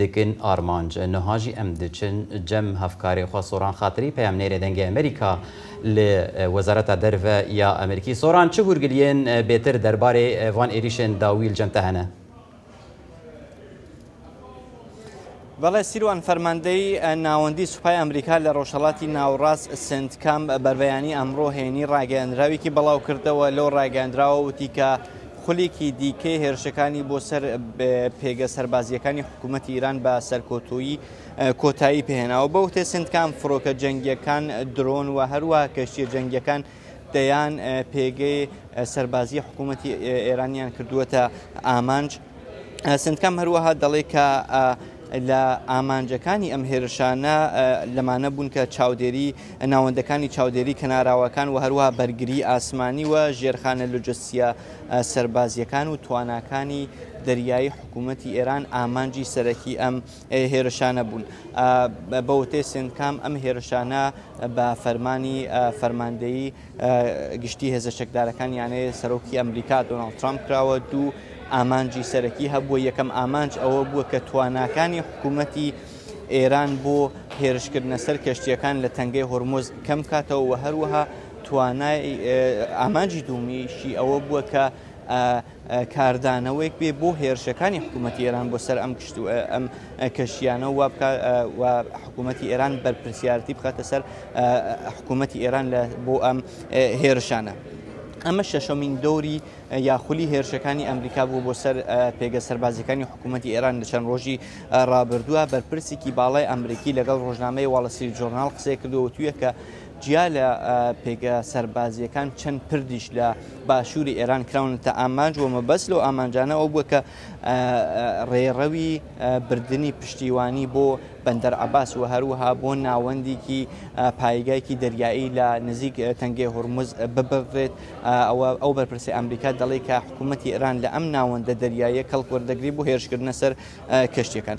دکن ئارمانج نهاژی ئەم دچن جەم هەفکارێ خوە سۆران خاتری پەیامنێرێ دەنگێ ئەمریکا ل وەزارەتا دەرڤە یا ئەمریکی سۆران چ هۊرگلیێن بێتر دەربارێ ڤان ئێریشێن داویل جەم تەهەنە؟ بەڵێ سیروان فەرماندەی ناوەندی سوپای ئەمریکا لە ڕۆژهەڵاتی ناوەڕاست سنتکام بەربەیانی ئەمڕۆ هەینی ڕاگەیەندراوێکی بەڵاوکردەوە لەو ڕاگەیەندراوە وتی کە خولێکی دیکەی هێرشەکانی بۆ سەر پێگە سەربازییەکانی حکوومەتی ئیران بە سەرکۆتویی کۆتایی پێهێناوە بە وتێ سندکان فڕۆکە جەنگیەکان درۆن و هەروە کەشتیە جەنگیەکان دەیان پێگەی سەربازی حکوومەتی ئێرانیان کردووەتە ئامانج سندکام هەروەها دەڵێ کە لە ئامانجەکانی ئەم هێرشانە لەمانە بوون کە چاودێری ناوەندەکانی چاودێری کەناراوەکان و هەروەها بەرگری ئاسمانی و ژێرخانە لوجستیە سەربازیەکان و تواناکانی دەریایی حکوومەتی ئێران ئامانجی سەرەکی ئەم هێرشانە بوون بەوتێ سندکام ئەم هێرشانە بە فەرمانی فەرماندەیی گشتی هێزە چەکدارەکان یانەیە سەرۆکی ئەمریکا دۆناڵد ترامپ کراوە دوو ئامانجی سەرەکی هەبووە یەکەم ئامانج ئەوە بووە کە تواناکانی حکوومەتی ئێران بۆ هێرشکردنە سەر کەشتیەکان لە تەنگەی هۆرمۆز کەم کاتەوە و هەروەها توانای ئامانجی دومیشی ئەوە بووە کە کاردانەوەیەک بێ بۆ هێرشەکانی حکوومەتی ئێران بۆ سەر ئەم کشت و ئەم کەشتیانە و حکوومەتی ئێران بەرپرسیارەتی بخاتە سەر حکوومەتی ئێران بۆ ئەم هێرشانە. ئەمە شەشەمین دەوری یاخلی هێرشەکانی ئەمریکا بوو بۆ سەر پێگە سەربازیەکانی حکوومەتتی ئێران لە چەند ڕۆژی ڕابردووە بەرپرسێکی باڵای ئەمریکی لەگەڵ ڕۆژنامەی واڵەسری جۆرنال قسەی کردووە تویە کە جیا لە پێگە سەربازییەکان چەند پردیش لە باشووری ئێران کراونەتە ئامانج و مەبەست لەو ئامانجانە ئەو بووە کە ڕێڕەوی بردننی پشتیوانی بۆ بەندەر عباس و هەروەها بۆ ناوەندێکی پایگایکی دەریایی لە نزیک تەنگێ هورمز ببڕێت ئەوە ئەو بەرپرسی ئەمریکا دەڵێت کە حکوومەتتی ئێران لە ئەم ناوەندە دەریایە کەڵکوەردەگری بۆ هێرشکردنە سەر کەشتەکان.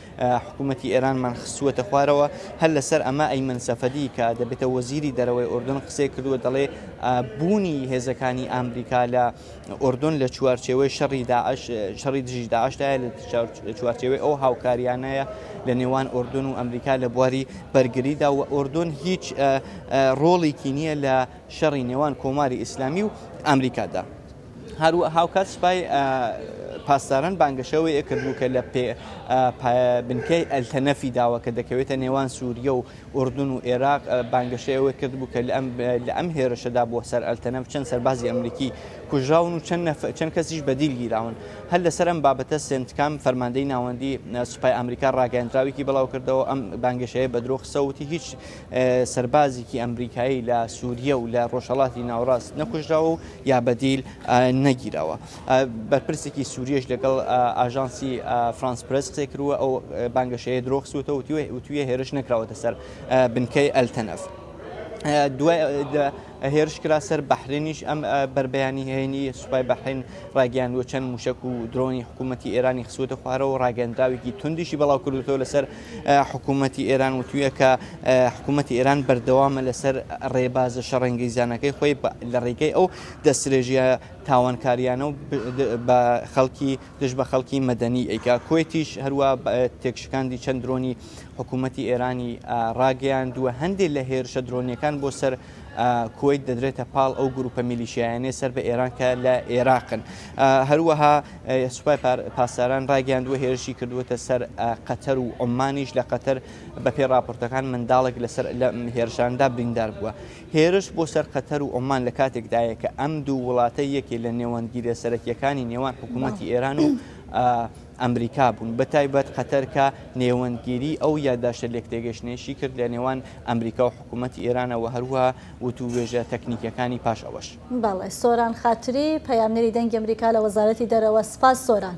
حکومەتی ئێرانمان خستووەتە خوارەوە، هەر لەسەر ئەمە ئەیمەن سەفەدی کە دەبێتە وەزیری دەرەوەی ئوردن قسەی کردووە دەڵێ بوونی هێزەکانی ئامریکا لە ئوردن لە چوارچێوەی شەڕی داعش شەڕی دژی داعشدایە لە چوارچێوەی ئەو هاوکاریانەیە لە نێوان ئوردن و ئەمریکا لە بواری بەرگریدا و ئوردن هیچ ڕۆڵێکی نییە لە شەڕی نێوان کۆماری ئیسلامی و ئامریکادا. هاوکات سوپای پاسداران بانگەشەی ئەوەی کردبوو کە لە بنکەی ئەلتەنەفی داوە کە دەکەوێتە نێوان سووریە و ئوردن و ئێراق بانگەشەی ئەوەی کردبوو کە لە ئەم هێرشەدا بووە سەر ئەلتەنەف چەند سەربازی ئەمریکی کوژراون و چەند کەسیش بەدیل گیراون هەر لەسەر ئەم بابەتە سنتکام فەرماندەی ناوەندی سوپای ئەمریکا ڕاگەندراوێکی بڵاو کردەوە ئەم بانگەشەیە بە درۆ خسەوتی هیچ سەربازێکی ئەمریکایی لە سووریە و لە ڕۆژهڵاتی ناوڕاست نەکوژراوە و یا بەدیل نەگیراوە. بەرپرسێکی سووریەش لەگەڵ ئاژانسی فرانس پرێس قسەی کردووە و ئەو بانگەشەیە درۆ خستووەتەوە و وتوویە هێرش نەکراوەتە سەر بنکەی ئەلتەنەف. دوای هێرش کرا سەر بەحرێنیش ئەم بەربەیانی هەیەنی سوپای بەحرین ڕاگەیاندووە چەند موشەک و درۆنی حکوومەتی ئێرانی خسووتە خوارەوە و ڕاگەندراوێکی توندیشی بەڵاو کردووەتەوە لەسەر حکومەتی ئێران وتوویە کە حکومەتی ئێران بەردەوامە لەسەر ڕێبازە شەڕەنگیزانەکەی خۆی لە ڕێگەی ئەو دەسترێژیە تاوانکاریانە و بە خەڵکی دژ بە خەڵکی مەدەنی ئەیکا کوێتیش هەروە تێکشکاندی چەند درۆنی حکوومەتی ئێرانی ڕاگەیاندووە هەندێک لە هێرشە درۆنیەکان بۆ سەر کوەیت دەدرێتە پاڵ ئەو گروپە میلیشیایانەی سەر بە ئێران کە لە ئێراقن هەروەها سوپای پاسداران ڕایگەاندووە هێرشی کردووەتە سەر قەتەر و عمانیش لە قەتەر بە پێ راپۆرتەکان منداڵێک لەسەر لە هێرشاندا بریندار بووە هێرش بۆ سەر قەتەر و عمان لە کاتێکدایە کە ئەم دوو وڵاتە یەکێ لە نێوەندگیرە سەرەکیەکانی نێوان حکوومەتتی ئێران و ئەمریکا بوون، بەتایبەت قەتەر کە نێوەندگیری ئەو یادداشتە لێکتێگەیشتنەیەشی کرد لە نێوان ئەمریکا و حکوومەتی ئێرانە و هەروەها وتووێژە تەکنیکییەکانی پاش ئەوەش. بەڵێ، سۆران خاتری، پەیامنێری دەنگی ئەمریکا لە وەزارەتی دەرەوە. سپاس سۆران.